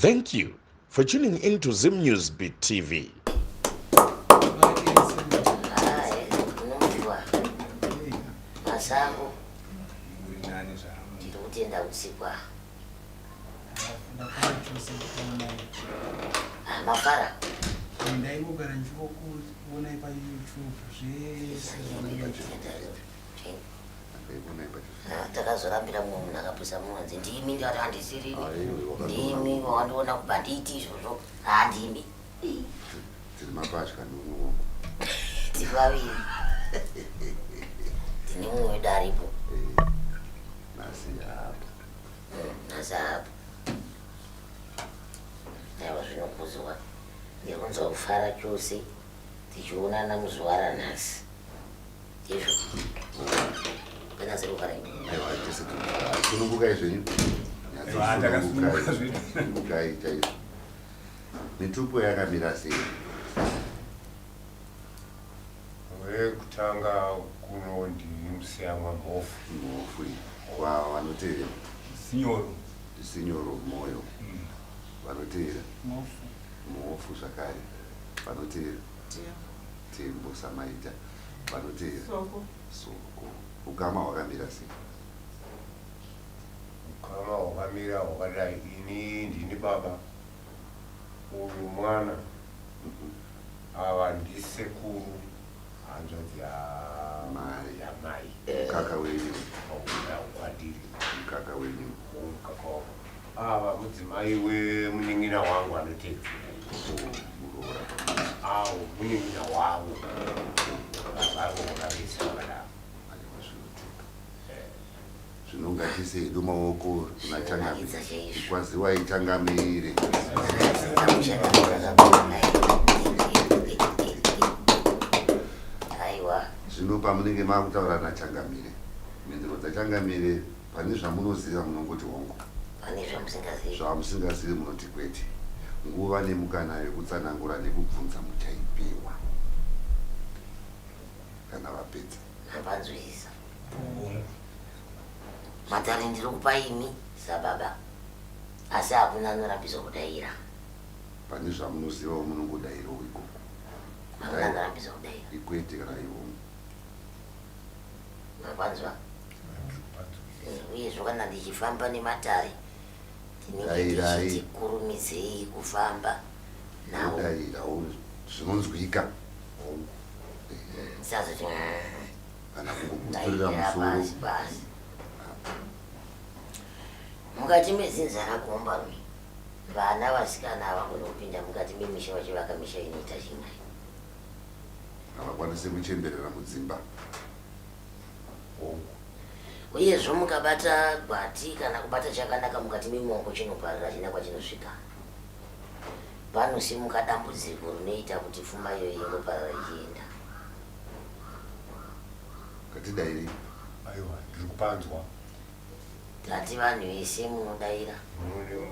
Thank you for tuning in to Zim News Beat TV. Masango ndinotenda usikwa mafara ndaingogara ndichikuonai payoutube zvese Ah, takazorambira mumwe munhu akapwisa munonzi ndimi ndati handisiri ndimi wandiona kubva ndiiti izvozvo handimi tiri mapatya ndiunowo tiri vaviri tine mumwe wedu aripo nhasi apa nhasi apa aiwa zvinokuziwa ndikunzwa kufara chose tichionana muzuva ranhasi sunungukai zvenyu sunungukai chaizvo mitupo yakamira sei wekutanga kuno ndimusiyamwa mhofu mhofu kwavo vanotevera sinyoro sinyoro mwoyo mm. vanotevera mhofu zvakare vanotevera Tembo samaita vanoteera soko. Soko ukama hwakamira sei? Ukama hwakamira hwakadai, ini ndini baba, uyu mwana, ava ndisekuru, hanzvadzi yamai, yamai. Mukaka wenyu. Kwandiri. Mukaka wenyu. Mukaka wangu. Ava mudzimai wemunin'ina wangu anoteedzera awo munin'ina wavo varovakaveisa vana zvinongatise hedu maoko kuna changami kwaziwai changamire zvino pamunenge makutaura nachangamire mhinduro dzachangamire Pane zvamunoziva munongoti hongu. Pane zvamusingazivi. Zvamusingazivi munoti kwete. Nguva nemukana yekutsanangura nekubvunza muchaipiwa kana vapedza. Mapanzwisisa. Matare ndiri kupa imi sababa asi hakuna anorambiswa kudaira. Pane zvamunozivawo munongodairawo ikoko. Hakuna anorambiswa kudaira. Ikwete kana ihongu. Mapanzwa. Uyezvo kana ndichifamba nematare tinenge tichiti kurumidzei kufamba nawo. Zvinonzwika. Sazoti kana kungogutsurira musoro. Mukati medzinza rakomba mi vana vasikana havagoni kupinda mukati memisha vachivaka misha inoita chimai. Havakwanise kuchemberera mudzimba hongu. Uyezvo mukabata gwati kana kubata chakanaka mukati memaoko chinoparira china kwachinosvika. Panosimuka dambudziko rinoita kuti pfuma iyoyi ingoparira ichienda. Ngatidairei. Aiwa, ndiri kupanzwa. Tati vanhu vese munodaira.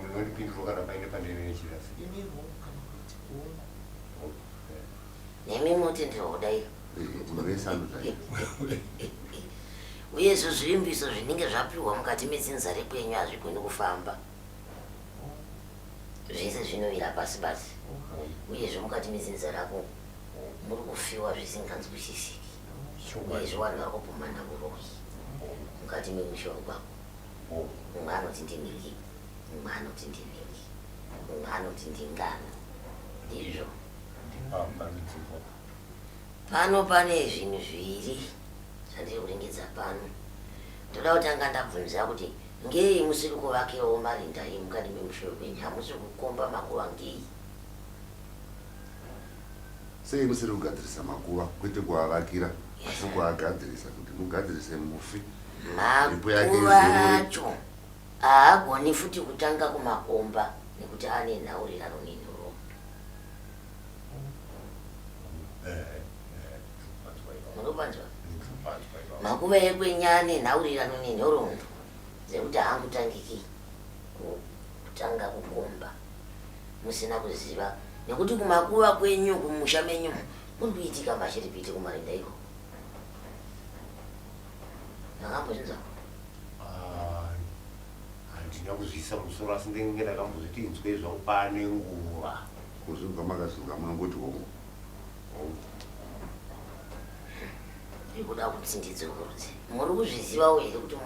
Munondipindura kana paine pandinenge ndichida. Imi hongu kana kuti hongu. nemi moti ndinoda iyo uye izvo zvivimbiso zvinenge zvapihwa mukati medzinza rekwenyu hazvigoni kufamba zvese zvinovira pasi pasi uyezvo mukati medzinza rako muri kufiwa zvisinganzwisisiki uyezvo vanhu vari kupumana uroyi mukati memushoro kwako mumwe anoti ndiniki mumwe anoti ndiniki mumwe anoti ndingano ndizvo Pano pane zvinhu zviviri zvandiri kuringidza pano. Ndoda kutanga ndabvunza kuti ngei musiri kuvakirawo marinda iyi mukati memusha wekwenyu? Hamusi kukomba makuva ngei? Sei musiri kugadzirisa makuva kwete kuavakira asi kuagadzirisa kuti mugadzirise mufi? Makuva acho haagoni futi kutanga kumakomba nekuti ane nhaurirano nenhoroondo. makuva ekwenyane nhaurirano nenhoroondo dzekuti haangutangiki kutanga kukomba musina kuziva nekuti kumakuva kwenyu kumusha menyu kuri kuitika mashiripiti kumarinda iko ndakambozvinzwa Handina kuzviisa mumusoro asi ndenge ndakambozviti inzwei zvangu pane nguva. Ko zvino pamakazviziva munongoti hongu hongu. Zviri kuda kuti ndidzokorose. Muri kuzvizivawo here kuti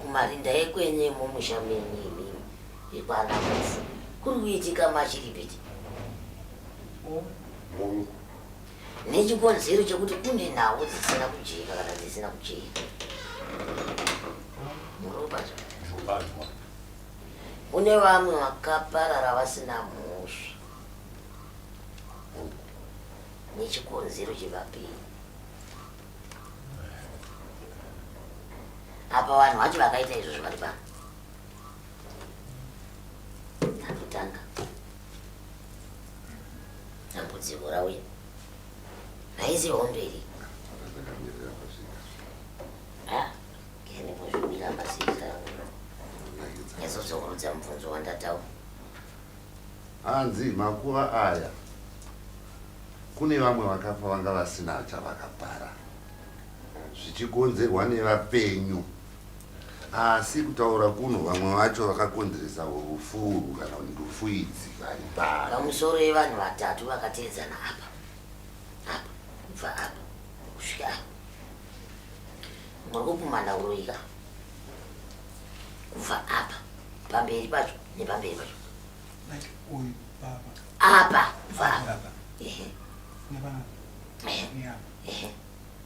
kumarinda ekwenye mumusha menyu imimi yekwana Mhofu kuri kuitika machiripiti? Hongu. nechikonzero chekuti kune nhau dzisina kujeka kana dzisina kujeka muropazwa kune vamwe vakaparara vasina mhosva nechikonzero chevapiri apa vanhu vacho vakaita izvozvo vari pano anotanga dambudziko rauya haizi hondo iri ndimbozvimira pasika yazodzokorudza mubvunzo wandataura hanzi makuva aya kune vamwe vakafa vanga vasina chavakapara zvichikonzerwa nevapenyu Asi kutaura kuno vamwe vacho vakakonzeresa rufu urwu kana kuti rufu idzi vari pari. Pamusoro yevanhu vatatu vakateedzana apa apa kubva apa kusvika apa. Muri kupumhana uroyi ka? Kubva apa pamberi pacho nepamberi pacho Like uyu baba apa kubva apa. baba Ehe, nebana ehe, neapa ehe.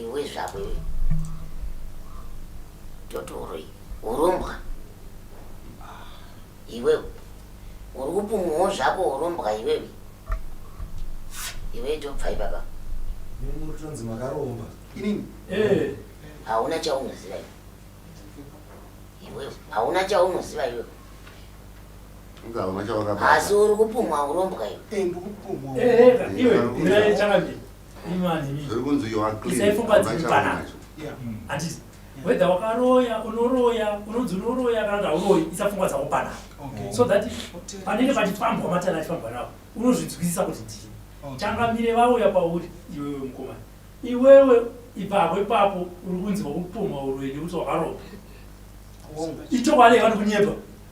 Iwe zvako iwe. Totoro iyi. Urombwa. Iwewe. Uri kupumwawo zvako urombwa iwewe. Iwe tobva ipapa. Mimi muri tonzi makaromba. Inini. Eh. Hauna chaunoziva iwe. Iwewe. Hauna chaunoziva iwewe. Asi uri kupumwa urombwa iwe. Eh, ndikupumwa. Eh, eh, iwe. Ndikupumwa. zvikunzi you are clean handiti whether wakaroya unoroya unonzi unoroya kana kuti hauroyi isapfungwa dzako pana so that panenge pachifambwa matana achifambwa navo unozvinzwisisa kuti ndii changamire vauya pauri iwewe mukomana iwewe ipapo ipapo uri kunzi wakupumha uroyi nekuti wakaroya ichokwadi vanokunyepa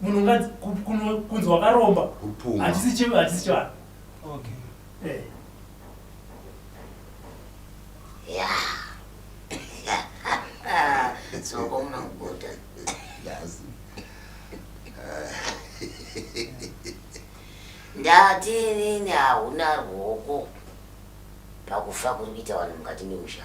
munhu nganzi ku- kuno- kunzi wakaromba Upunga. hachisi chi- hachisi chivanhu okay Eh. Soko unakubuda. Yazi. Ndati nini hauna ruoko pakufa kuri kuita vanhu mukati memusha.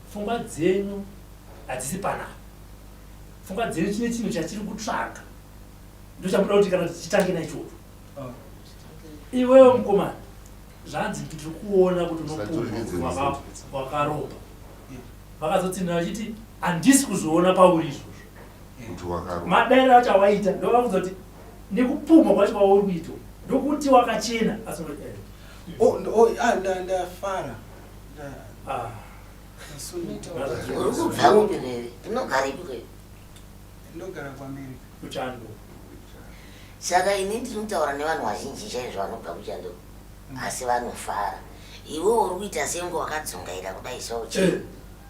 Pfungwa dzenyu hadzisi panapa. Pfungwa dzenyu chine chinhu chatiri kutsvaga. Ndochamuda kuti kana tichitange naichocho. Oh. Iwewe mukomana, zvanzi kuti tiri kuona kuti unopumwa wakaromba. Vakazotsinhira vachiti handisi kuzoona pauri izvozvo. Madairo acho awaita ndovakudza kuti nekupumwa kwacho kwauri kuitwa ndokuti wakachena asi ndafara uri kubva kupi veve unogara ipi ndogara kuamerica kuchando saka ini ndinotaura nevanhu vazhinji chaizvo vanobva kuchando hmm. asi vanofara iwe uri kuita senge wakadzungaira kudai so chii eh.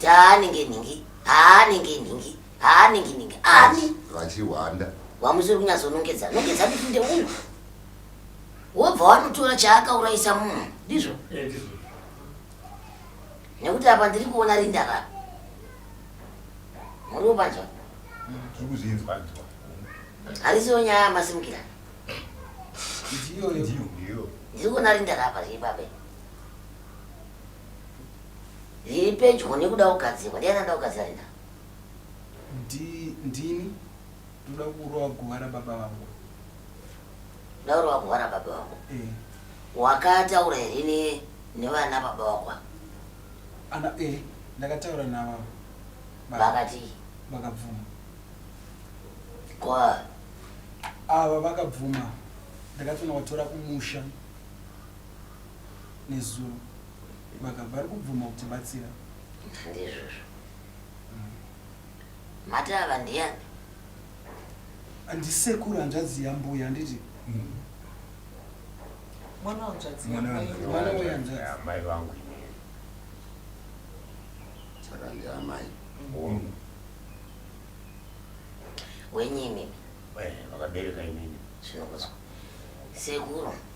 Daa ninge ningi, haa ninge ningi, haa ningi ningi, ani? Vachihwanda. Wamusiri kunyazo nongedza, nongedza kuti nde uno. Wobva wanotora chaaka uraisa munhu, ndizvo? Eh, ndizvo. Nekuti apa ndiri kuona rinda ra. Muri upanzwa? Tiri kuzvinzwa nzwa. Harisiyo nyaya masimukira. Ndiyo, ndiyo. Ndiri kuona rinda ra apa zviri pape. Zviri pedyo nekuda kugadzirwa. Ndiani anoda kugadzira rinda? Ndini. Ndoda kurova guva rababa vangu. Ndoda kurova guva rababa vangu? Eh. Wakataura here nevana baba vako? Ana eh ndakataura navo. Vakati vakabvuma. Kwa ava vakabvuma. Ndakatonovatora kumusha. nezuro vakabva vari kubvuma kutibatsira. Ndizvozvo. Mati ava ndiyani? Ndisekuru hanzvadzi yambuya handiti? Mm. Mwana wanzvadzi amai vangu inini. Saka ndiamai. Mm. Wenyini. Eh, vakabereka inini. Zvinokuzwa. Sekuru.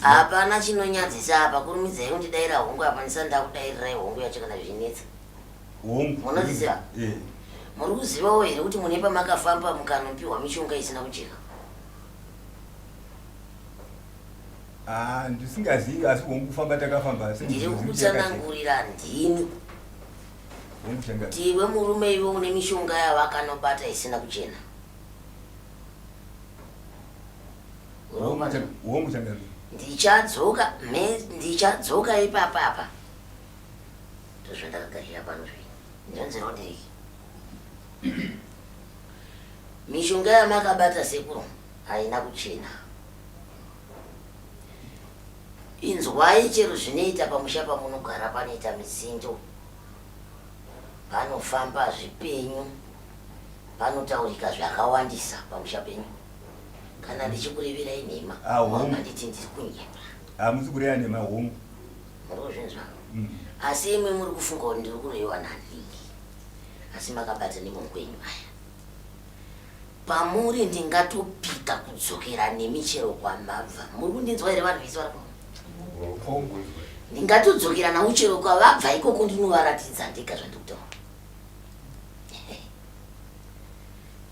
hapana chinonyadzisa apa kurumidzai kundidaira hongu apa ndisa ndakudairirai hongu yacho kana zvinetsa munoziziva eh. muri kuzivawo here kuti mune pamakafamba mukanopiwa mishonga isina kujeka ah, ndisingazivi asi hongu kufamba takafamba ndiri kutsanangurira ndini ndiwe murume iwe une mishonga yavakanobata isina kuchena ndichadzoka me ndichadzoka ipapa apa ndozvandakagarira pano zvi ndonzero ndiriki mishonga yamakabata sekuru haina kuchena inzwai chero zvinoita pamusha pamunogara panoita mizindo panofamba zvipenyu Panotaurika zvakawandisa pamusha penyu. Kana ndichikureverai nhema, Ah, hongu. haunganditi ndiri kunyepa. Hamusi kureva nhema hongu. Muri kuzvinzwa? Mm. Asi imwe muri kufunga kuti ndiri kuroyiwa naLingi. Asi makabata nemaoko enyu aya. Pamuri ndingatopika kudzokera nemi chero kwamabva. Muri kundinzwa here vanhu vese vari kuno? Hongu. Ndingatodzokera navo chero kwavabva ikoko ndinovaratidza ndega zvandiri kutaura.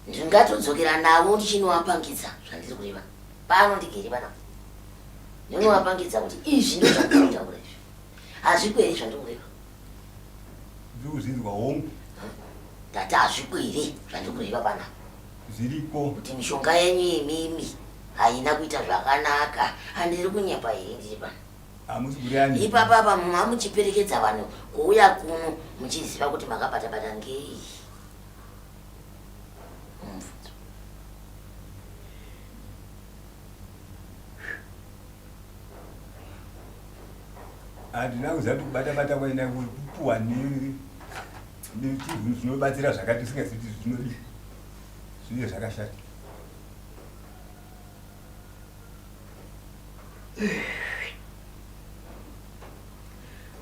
ndingatodzokera navo ndichinovapangidza zvandiri kureva pano ndigere pana ndinovapangidza kuti izvi ndo zvandinotaura izvi hazvikwere zvandiri kureva zvirikuzvinzwa hongu ndati hazvikwere zvandiri kureva pana zviriko kuti mishonga yenyu yemimi haina kuita zvakanaka handiri kunyepa here ndiri pana ipapa apa mumwe amuchiperekedza vanhu kuuya kuno muchiziva kuti makabatabata ngei handina kuziva kuti kubatabata kwaina kupuwa nechinhu zvinobatsira zvakati usingazivi kuti zvinodii zvinge zvakashata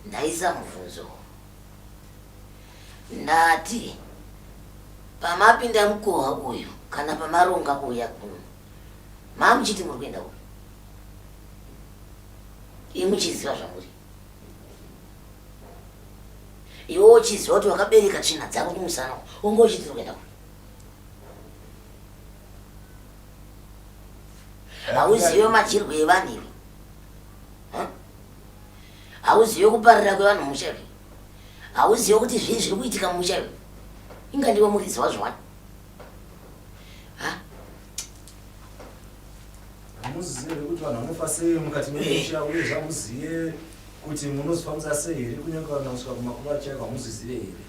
ndaisa mubvunzo ndati pamapinda mukoha uyu kana pamaronga kuuya kuno mamuchiti muri kuenda uyu imuchiziva zvamuri iwe uchiziva kuti wakabereka tsvina dzako kumusana unge uchiti uri kuenda kuno hauzive madyirwo evanhu ivi hauzive kuparira kwevanhu musha ivi hauzive kuti zvii zviri kuitika mumusha ivi inga ndiwe muridzi wazvo wani hamuzive kuti vanhu vanofa sei mukati memusha uye zvamuzive kuti munozofambisa sei here kunyange vanhu vanosvika kumakuva chaiko hamuzvizive here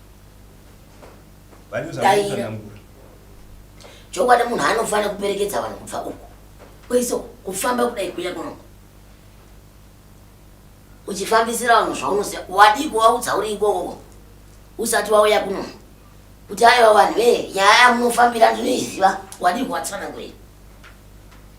Daira. Chokwadi munhu anofanira kuperekedza vanhu kubva uku. Kwese kufamba kudai kuya kuno. Uchifambisira vanhu zvaunoziva. Wadii kuvaudza uri ikoko usati wauya kuno. Kuti aiwa vanhu vee nyaya yamunofambira ndinoiziva wadii kuvatsanangurira.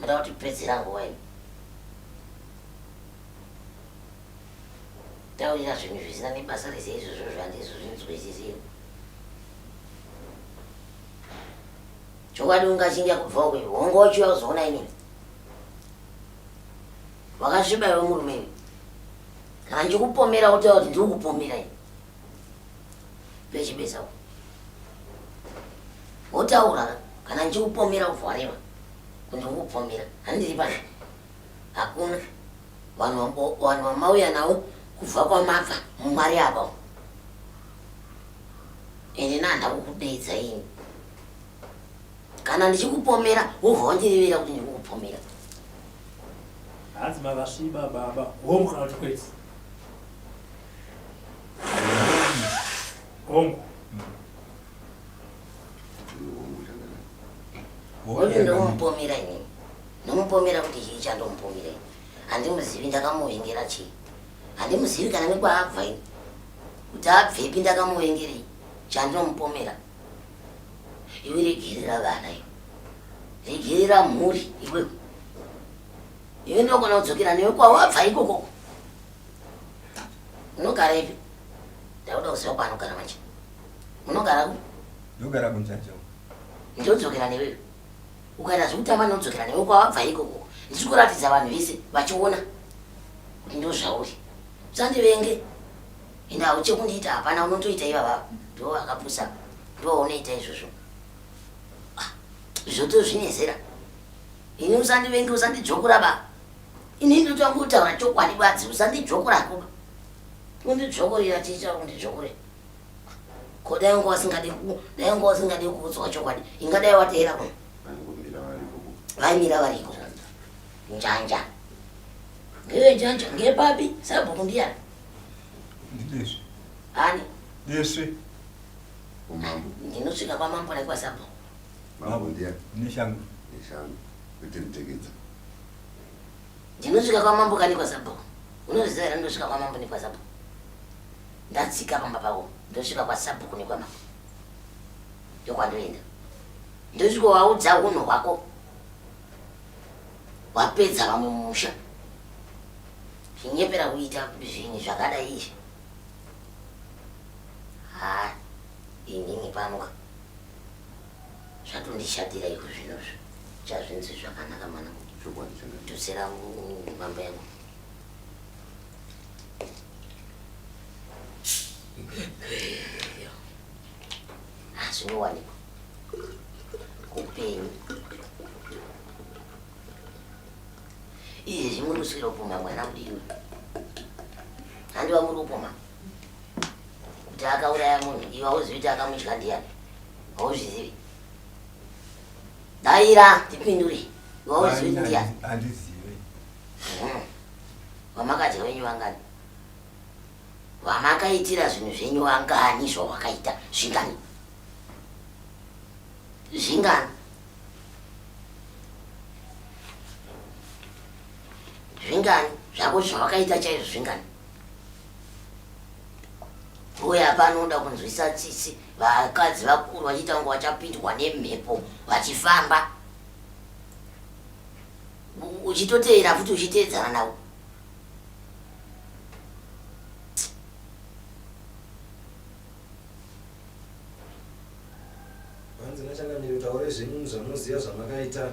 Muda kuti pedzera nguva imi. Taurira zvinhu zvisina nebasa rese izvozvo zvandizo zvinzwisisira. Chokwadi ungachinja kubva uko iwe. Hongo uchiuya kuzoona inini. Wakasviba iwe murume iwe. Kana ndikupomera wotaura kuti ndiri kupomera iwe. Pechibeza uko. Wotaura kana ndichikupomera ubva wareva. Kuti ukupomera. Handiri pano. Hakuna. Vanhu vanhu vamauya navo kubva kwamabva mumari apa. Ende nanda kukudeedza ini. Kana ndichikupomera wobva wandirevera kuti ndiri kupomera. Hanzi mavasviba baba. Home kana kuti kwete. Hongu ndomupomera ini ndomupomera kuti chii chandomupomera ini handimuzivi ndakamuvingira chii handimuzivi kana nekwaabva ini kuti abvepi ndakamuvengerei chandomupomera iwe regerera vana iwe regerera mhuri iwe iwe ndokona kudzokera newe kwawabva ikoko Munogara ipi? Ndakuda kuziva kwaanogara manje. Munogara ku? Ndogara kunjanja. Ndodzokera newewe. Ukaita zvekutamba ndinodzokera newe kwawabva ikoko. Ndiri kuratidza vanhu vese vachiona kuti ndozvauri. Usandivenge. Ende hauche kundiita hapana unotoita ivavava. Ndiwo akapusa. Ndiwo unoita izvozvo. Ah, zvoto zvinezera. Ini usandivenge usandidzvokura baba. Ini ndotanga kutaura chokwadi badzi usandidzvokora kuba. Undidzvokorera chicha undidzvokore. Ko dai wanga wasingade ku dai wanga wasingade kuudzwa chokwadi ingadai wateera kuno. Vaimira variko. Njanja. Ngewe njanja ngepapi sabhuku ndiyani? Ndidesvi. Ani? Desvi. Umambo. Ndinosvika kwamambo naikwa sabhuku. Mambo ndiya. Neshangu. Neshangu. Kuti mteketsa. Ndinosvika kwa mambo kani kwa zabo. Unozviziva here ndosvika kwa mambo nekwa zabo. Ndatsika pamba pavo. Ndosvika kwa zabo kune kwa mambo. Ndokwandoenda. Ndosvika waudza hunhu hwako. Wapedza vamwe musha. Chinyepera kuita zvinhu zvakadai izvi. Ha. Inini panoka. zvatondishatira iko zvinozvo chazvinzi zvakanaka mwana tudzira mambo yangu hazvinowanikwa kupenyu iye zvimwe muswira kupoma mwana kudini handi vamuri kupoma kuti akauraya munhu iwe auzivi kuti akamudya ndiyani hauzvizivi daira tipindure iwe auzivi kuti ndiyani andizive hmm. vamakadya venyu vangani vamakaitira zvinhu zvenyu vangani zvawakaita zvingani zvingani zvingani zvako zvawakaita chaizvo zvingani uya panoda kunzwisa tsitsi vakadzi vakuru vachiita kunge vachapindwa nemhepo vachifamba uchitoteera futi uchiteedzana navo hanzi nachangamiri taure zvenyu zvamunoziva zvamakaita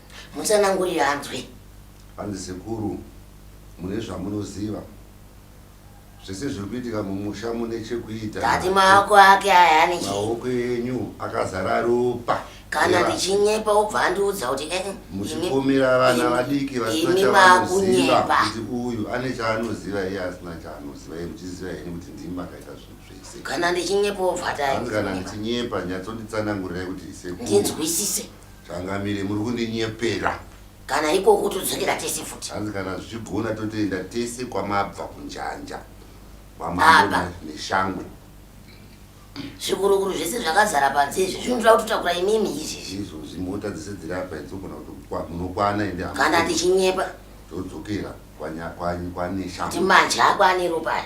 Mutsanangurire anzwe. Hanzi sekuru mune zvamunoziva. Zvese zviri kuitika mumusha mune chekuita. Ndati maoko ake aya ane chii? Maoko enyu akazara ropa. Kana ndichinyepa wobva andiudza kuti eh, eh, muchipomera vana vadiki vasina chavanoziva kuti uyu ane chaanoziva iye asina chaanoziva iye muchiziva henyu kuti ndimi makaita zvinhu zvese. Kana ndichinyepa wobva ati hanzi kana ndichinyepa nyatsonditsanangurirai kuti sekuru ndinzwisise. Changamire muri kundinyepera. Kana ikoko todzokera tese futi. Hanzi kana zvichigona totoenda tese kwamabva kunjanja. Kwamabva neshangwe. Zvikurukuru zvese zvakazara panze izvi zvinoda kutotakura imimi izvi. Izvo zvimota dzese dziri apa idzogona kuti munokwana ende. Kana tichinyepa. Todzokera kwanya kwanyi kwanesha. Kuti manje ako ane ropa.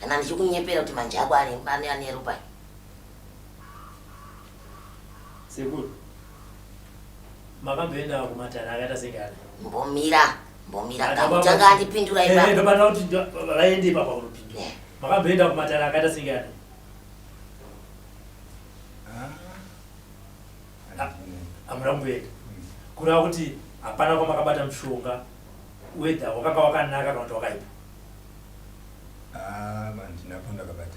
Kana ndichikunyepera kuti manje ako ane ane ropa. Sekuru, makamboendawo kumatare akaita segare? Mbomira, mbomira, ndakutanga andipindura eh, ipapo. Eh, ndobata kuti vaende ipapo kunopindura. Eh. Makamboenda kumatare akaita segare? Ah. Ah, hamuna kumboenda. Hmm. Kureva kuti hapana kwamakabata mushonga, wedha wakanga wakanaka kana kuti wakaipa? Ah, handina kwandakabata.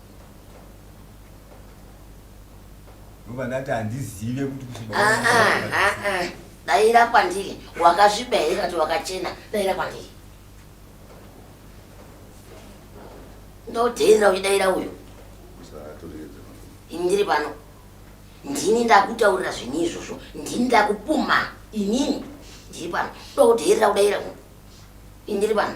ndobandati handizive kuti kuchibaa daira kwandiri wakasviba here kati wakachena daira kwandiri ndodheerera uchidaira uyu ini ndiri pano ndini ndakutaurira zvinhu izvozvo ndini ndakupuma inini ndiri pano ndokudheerera kudaira uyu ini ndiri pano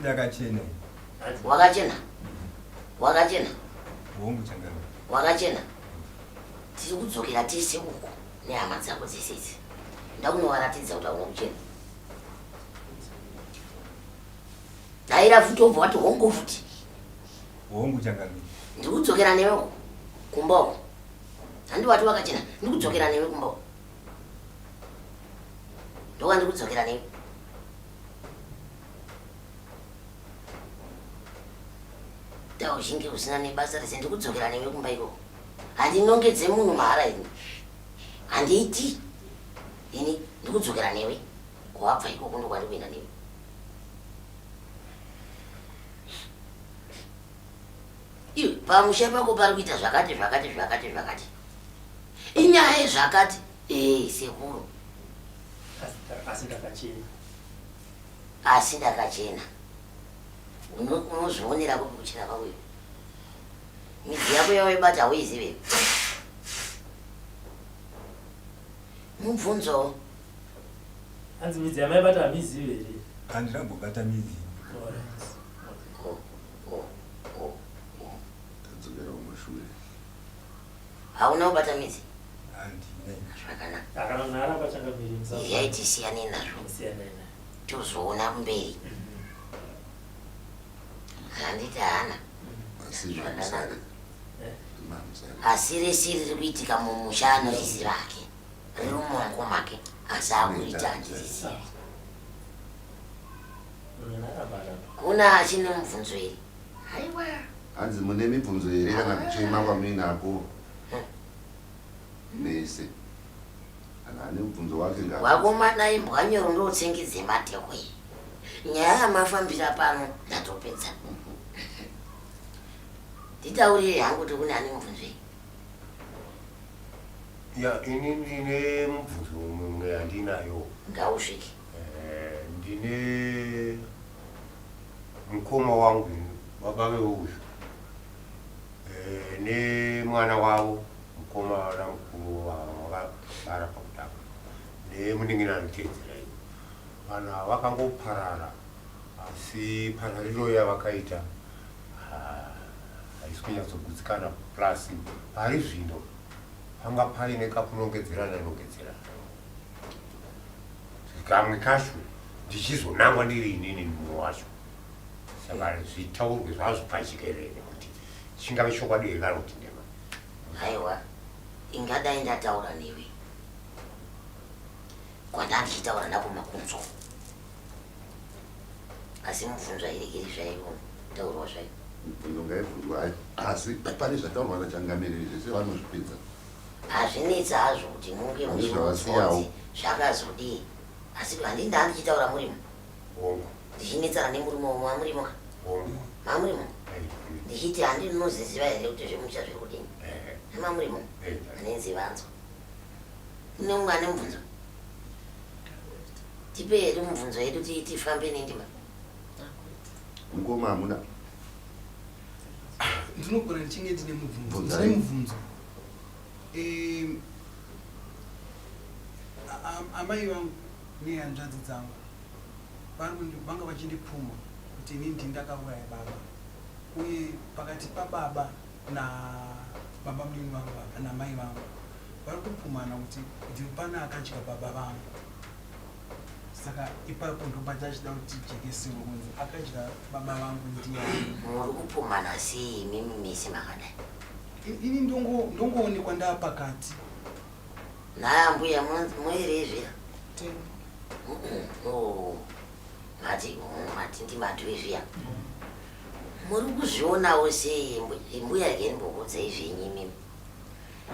ndakachena wakachena wakachena hongu changamire wakachena tiri kudzokera tese uko nehama dzako dzese idzi ndakunovaratidza kuti hauna kuchena daira futi obva wati hongu futi hongu changamire ndiri kudzokera newe uko kumba uko handi wati wakachena ndiri kudzokera newe kumba uko ndowandi kudzokera nei dao zhinge usina nebasa rese ndikudzokera newe kumba iko handinongedze munhu mahara ini handiiti ini ndikudzokera newe kwabva ikoko ndokwandi kuenda newe Iwe pamusha pako pari kuita zvakati zvakati zvakati zvakati. Inyaya yezvakati. Eh, sekuru. Asi ndakachena. Asi ndakachena. Unozvionera kupi kuchena kwako iwe. Midzi yako yawaibata hauizive. Mubvunzo. Hanzi midzi yamaibata hamizive here? Handina kumbobata midzi. Tadzokera kumashure. Hauna kubata midzi? Zvakanakayai tisiyane nazvo tozoona kumberi handiti hana asi rese riri kuitika mumusha anorisi vake Riri mumaoko make asi akuita handirizivi. Kuna achine mubvunzo here? Haiwa. Hanzi mune mibvunzo here kana kuchema kwamuinako? Mese. Kana ane mubvunzo wake ngava. Wakomana imbwa nyoro ndotsengi dzematehwe. Nyaya yamafambira pano ndatopedza. Nditaurire hangu kuti kune ane mubvunzo here? ya ini ndine mubvunzo mumwe yandinayo ngausvike eh, ndine mukoma wangu baba veuyu eh, nemwana wavo mukoma wana mukuru wavakabara pakutanga nemuningina anotedzera iyo vanhu vakangoparara asi parariro yavakaita Haisi kunyatsogutsikana plus pari zvino panga paine kakunongedzerana nongedzerana kamwe kacho ndichizonangwa ndiri inini mumwe wacho saka zvitaurwe zvazvo pachikerere kuti chingave chokwadi here kana kuti ndema aiwa ingadai ndataura newe kwandandichitaura nakumakunzwa asi mubvunzo airegeri zvaivo taurwa zvaivo mubvunzo ngaibvunzwa hayo asi pane zvataurwa nachangamiriri zvese vanozvipedza hazvinetsi hazvo kuti munge muchivasiyawo zvakazodii asi handii ndaa ndichitaura murimo ndichinetsana nemurimo womwe amurimo ka mamurimo ndichiti handi ndinoziziva here kuti zvemusha zviri kudini nemamurimo anenzivanzwa ine umwe ane mubvunzo Tipe hedu mubvunzo yedu tifambe nendima. Mukoma hamuna. Ndinogona ndichinge ndine mubvunzo. Ndine mubvunzo. Ehm amai vangu nehanzvadzi dzangu vanga vachindipfuma kuti ini ndini ndakauraya baba uye pakati pababa na baba munini vangu vaka na mai vangu vari kupumhana kuti ndiwe pana akadya baba vangu saka ipapo ndobata achida kuti jekesiwe kunzi akadya baba vangu ndiyani muri kupumhana sei imimi mese makadai I- ini ndongo- ndongoonekwa ndaa pakati naya mbuya moerezve Ten. mati mati ndimadwe zviya Muri kuzvionawo sei imbuya again bokudzai zvenyu imimi.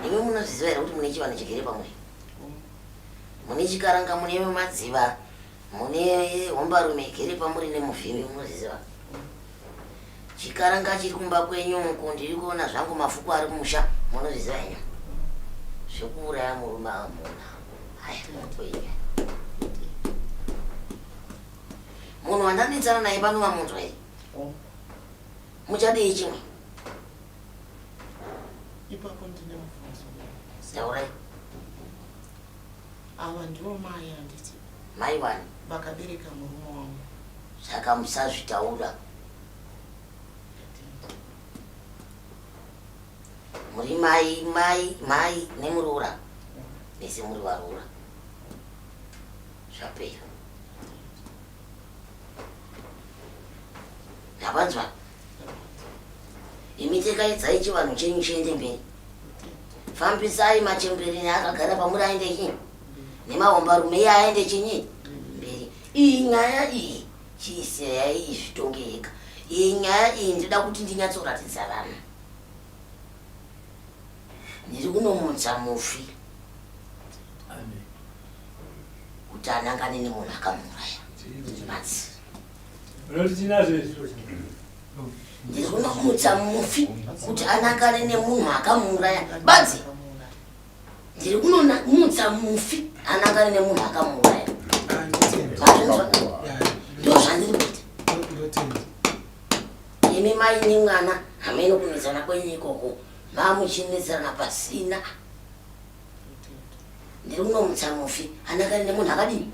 Imi munozviziva here kuti mune chivanhu chigere pamwe? Mune chikaranga mune madziva mune hombarume igere pamuri nemuvhimi munozviziva. Chikaranga chiri kumba kwenyu uku ndiri kuona zvangu mafuko ari kumusha munozviziva henyu. Zvekuuraya murume amuna. Haya, mutoinya. Munhu wandamitsana naye pano vamunzwa here? Oh. Muchadii chimwe? Ipapo ndine mubvunzo. Taurai. Ava ndivo mai handiti? Mai wani? Vakabereka murume wangu. Saka musazvitaura. Muri mai, mai, mai nemuroora. Mese muri varoora. Zvapera. Mapanzwa. Imi tekaidzai chivanhu chenyu chiende mberi. Fambisai machembereni akagara pamuri aende chinyi. Nemahomba rume iye aende chinyi. Mberi. Iyi nyaya iyi chiiseyai izvitonge yega. Iyi nyaya iyi ndida kuti ndinyatsoratidza vanhu. Ndiri kunomutsa mufi kuti anangane nemunhu akamuuraya. Batsira. Unoti tinazvo izvi? Ndiri kunomutsa mufi kuti anangane nemunhu akamuuraya. Badzi. Ndiri kunomutsa mufi anangane nemunhu akamuuraya. Bazvinzwa? Ndoo zvandiri kuita. Imi mai nemwana hameno kunetsana kwenyu ikoko. Mamuchinetsana pasina. Ndiri kunomutsa mufi. Anakari nemunhu akadini?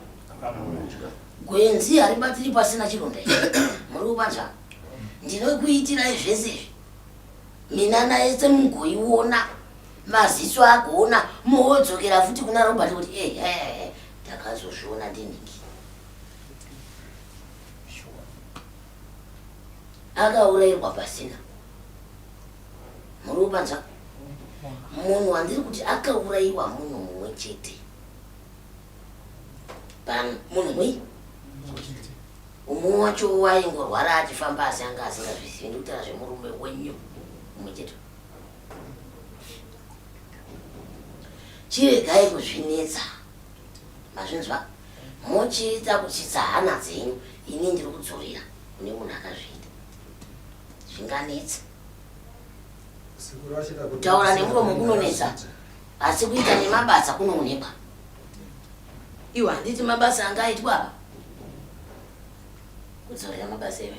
Gwenzi haribatsiri pasina chironda ichi. Muri kubanzwa? Ndinokuitirai zvese izvi. Minana yese mugoiona. Maziso agoona. Moodzokera futi kuna Robert kuti ehe eh, eh, eh, ndakazozviona ndinhingi. akaurairwa pasina muriwo panzwa munhu wandiri kuti akauraiwa munhu mumwe chete pano munhu mwi umwe wacho waingorwara achifamba asi anga asingazvizivi ndikutaura zvemurume wenyu mumwe chete chiregai kuzvinetsa mazvinzwa muchiita kutsitsa hana dzenyu ini ndiri kudzorera kune munhu akazviita zvinganetsa kutaura nemuromo kunonetsa asi kuita nemabasa kunoonekwa iwe handiti mabasa anga aitwa apa kudzorera mabasa iwe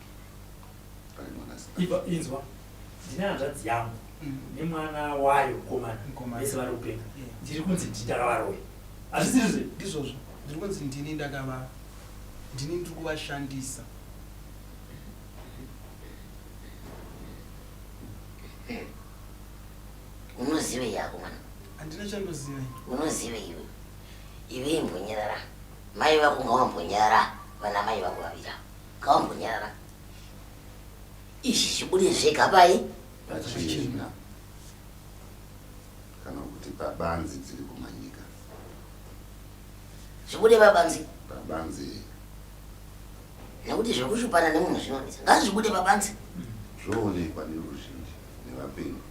Iva inzwa ndine hanzvadzi yangu mm. nemwana wayo mukomana vese vari kupenga ndiri kunzi ndini ndakavaroya hazvisirizve ndizvozvo ndiri kunzi ndini ndakavaro ndini ndiri kuvashandisa unozivei yako mwana handina chandozivei unozivei iwe ive imbonyerara mai vako ngawambonyerara vana mai vako vavira Kambunyara. Izvi zvibude zvega pai? Pachina. Kana kuti pabanzi dziri kumanyika. Zvibude pabanzi? Pabanzi. Nekuti zviri kushupana nemunhu zvinonetsa. Ngazvibude pabanzi. Zvoonekwa neruzhinji nevapenyu.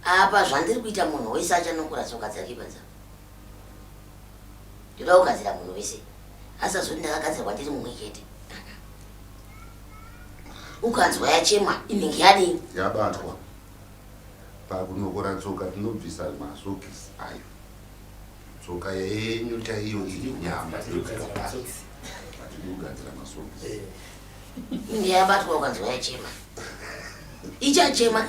Apa zvandiri kuita munhu wese achanokora tsoka dzake panzara. ndoda kugadzira munhu wese asazoti ndakagadzirwa ndiri mumwe chete ukanzwa yachema inenge yadii yabatwa pakunokora tsoka tinobvisa masokisi ayo tsoka yenyu chaiyo iri nyama kugadzira masokisi eh. inenge yabatwa ukanzwa yachema ichachema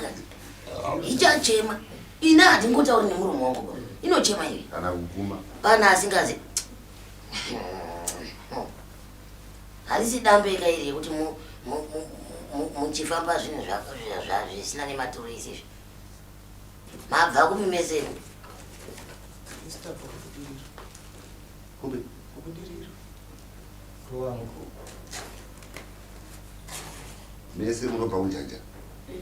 ichachema Ina hatingotauri nemuromo wangu bro. Inochema iwe. Kana kuguma. Pana asingazi. Halisi dambe ika iri yekuti mu muchifamba zvinhu zvisina nematuro isi izvi. Mabva kupi mese imi? Kupi? Kubudiriro. Kuwangu. Mese munobva kunjanja. Eh.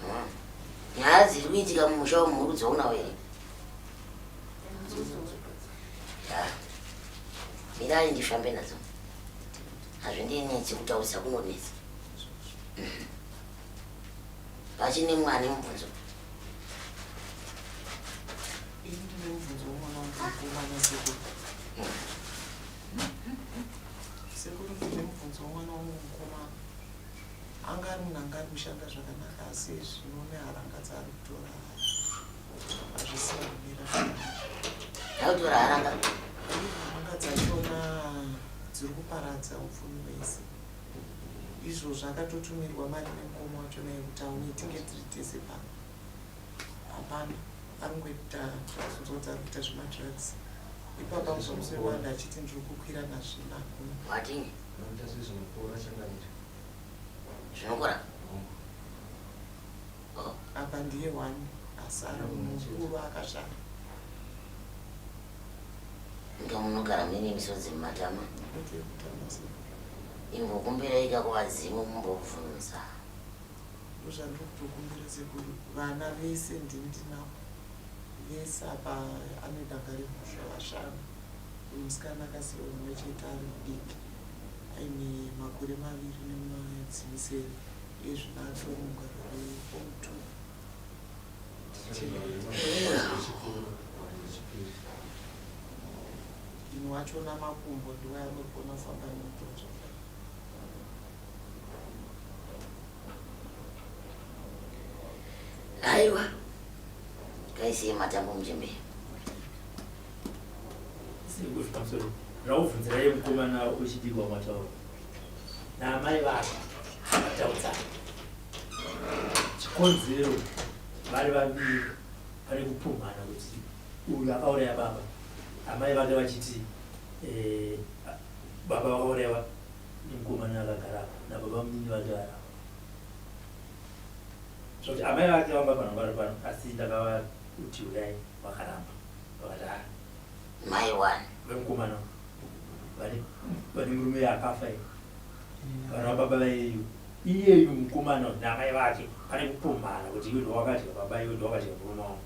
Hmm. Nyaya dziri kuitika mumusha umu muri kudzionawo here? Mirai ndifambe nadzo. Hazvindinetsi kutaurisa kunonetsa. Hmm. Pachine mwana mubvunzo. Anga ari munhu anga ari kushanda zvakanaka asi zvino neharanga dzaari kutora hazvisina kumira zvakanakautora haranga haranga dzachona dziri kuparadza upfumi wese izvozvo akatotumirwa mari nemukoma wacho naye kuti aune tinge tiri tese pano hapana ari ngoita zvazunzwa kuti ari kuita zvemadrugs ipapa muzomusoi wanda achiti ndiri kukwira nazvinakuna zvinokora oh. apa ndiye wani asara mukuru akashara inga munogara mine misodzi mumatama imbokumbira ikako vadzimu mumbobvunza ndozvandikutokumbira sekuru vana vese ndindinavo vese apa anedanga remusha vashanu Uyu musikana akasiiwa mumwe chete ari mudiki aine makore maviri nemwedzi misere iye zvino atori mugwaro reform two ini wacho namakumbo ndiwo anogona kufamba nemutoto aiwa kaisiye matambo muchembere rauvhunzirai mukomana wechidiki wamataura naamai vako vataudza chikonzero vari vaviri pane kupumhana kuti uyu akauraya baba amai vake vachiti eh, baba vakaurayiwa nemukomana akagara nababa mnini vake varapa zvokuti amai vake vamba panhu vari pano asi ndakava kuti uyai vakaramba Mai one. Vemkomana vane vane murume yakafa iyo. Vana baba vayeyo. Iyeyu mkomana namai vake pane kupumhana kuti iwe ndowakadya baba iwe ndowakadya murume wangu.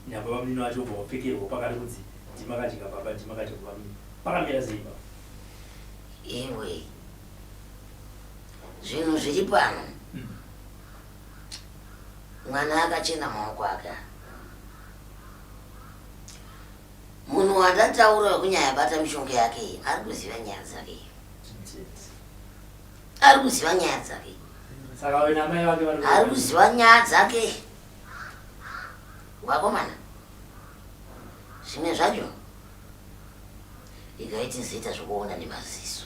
Nababa munini vacho vobva vapfekerwa pakati kunzi ndimakadya baba ndimakadya baba munini. Pakamira sei baba? Iwe. Zvinhu zviri pano. Hmm. Mwana akachena maoko ake. Munhu wandataura wekunyaya bata mishonga yake iyi ari kuziva nyaya dzake iyi. Ari kuziva nyaya dzake. Saka wena mai vake vari Ari kuziva nyaya dzake. Wakomana. Zvimwe zvacho ikaiti zita zvekuona nemaziso.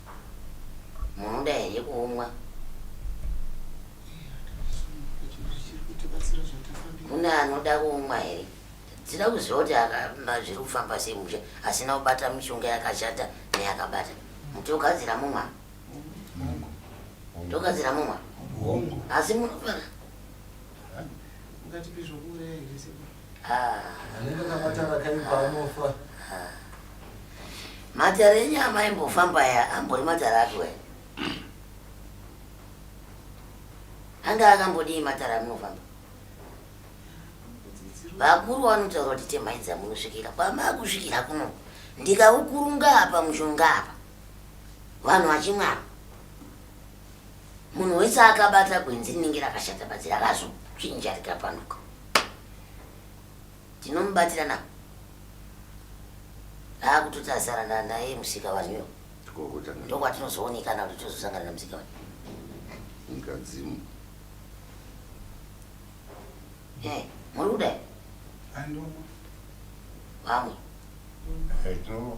Munoda here kumwa? Mune anoda kumwa here? Dzida kuziva kuti zviri kufamba sei musha asina kubata mishonga yakashata neyakabata. Mutogadzira mumwa? Togadzira mumwa? Asi munofana. Anenge akabata rakaipa anofa. Matare enyama imbofamba ya ambori matare atwe. Anga akambodii matare amunofamba? Vakuru vanotaura kuti temai dzamunosvikira kwamakusvikira kuno ndikaukurunga apa mushonga apa vanhu vachimwapa Munhu wese akabata gwenzi rinenge rakashata badzi rakazochinja rikapanduka. Tinomubatira na. Akutoti asara na naye musika vanhu. Tikokota. Ndokwatinozooneka na kuti tozosangana na musika vanhu. Ngadzimu. Eh, muri kudai? Andu. Vamwe. Eh, tinovo.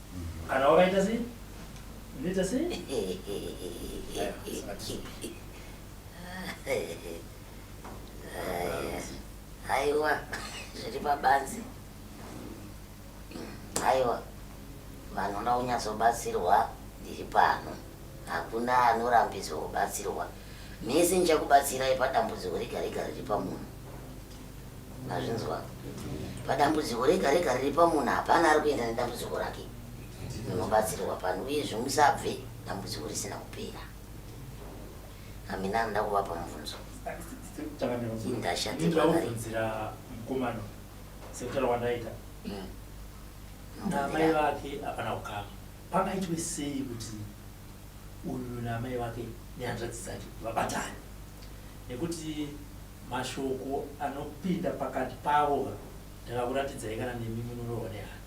Kana wakaita sei? Unoita sei? Aiwa, zviri pabanzi. Aiwa, vanoda kunyatsobatsirwa ndiri pano. Hakuna anorambidzwa kubatsirwa. Mese ndichakubatsirai padambudziko rega rega riri pamunhu. Mazvinzwa. Padambudziko rega rega riri pamunhu hapana ari kuenda nedambudziko rake. Munobatsirwa pano uyezve musabve dambudziko risina kupera. Amina anoda kuvapa mubvunzo. Indashatirwaobvunzira mukomano sekutara kwandaita mm. namai vake hapana kukama pangaitwe sei kuti uyu namai vake nehanzvadzi dzake vabatane nekuti mashoko anopinda pakati pavo ndakakuratidzai kana nemi munorohwa nehana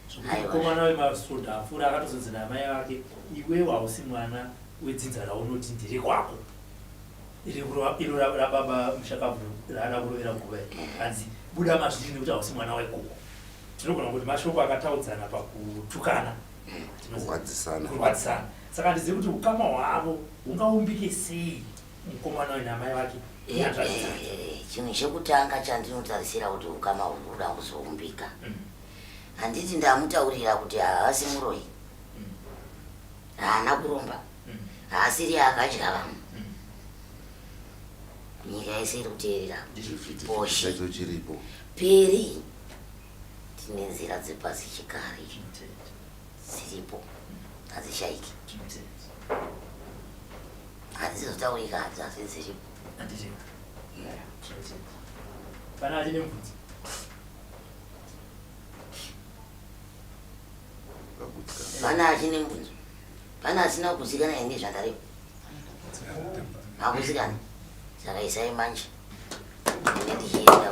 zvekuti mukomana wemasvondo apfuura akatozonzi namai vake iwewo hausi mwana wedzinza raunoti ndiri kwako iro rababa mushakabvu raada kurovera nguva hanzi buda mazviri nekuti hausi mwana wekoko tinogona kuti mashoko akataudzana pakutukana kurwadzisana saka handizivi kuti ukama hwavo hungaumbike sei mukomana uyu namai vake inyanzvadzi dzake Eh, chinhu chekutanga chandinotarisira kuti ukama hunhu huda kuzoumbika Mm. handiti ndamutaurira kuti haasi muroyi Mm. haana kuromba Mm. haasiri akadya vamwe Mm. nyika yese iri kuteerera Chifiti Boshi. chacho chiripo. peri tine nzira dzepasi chikare Chimutete, dziripo hadzishaiki chimutete. Handizotaurika hanzi asi dziripo. Handiripo. Pana ati nemvudzi. Pana ati nemvudzi. Pana asina kuzikana ende zvandaripo. Hakuzikana. Saka isai manje. Ine ndichienda.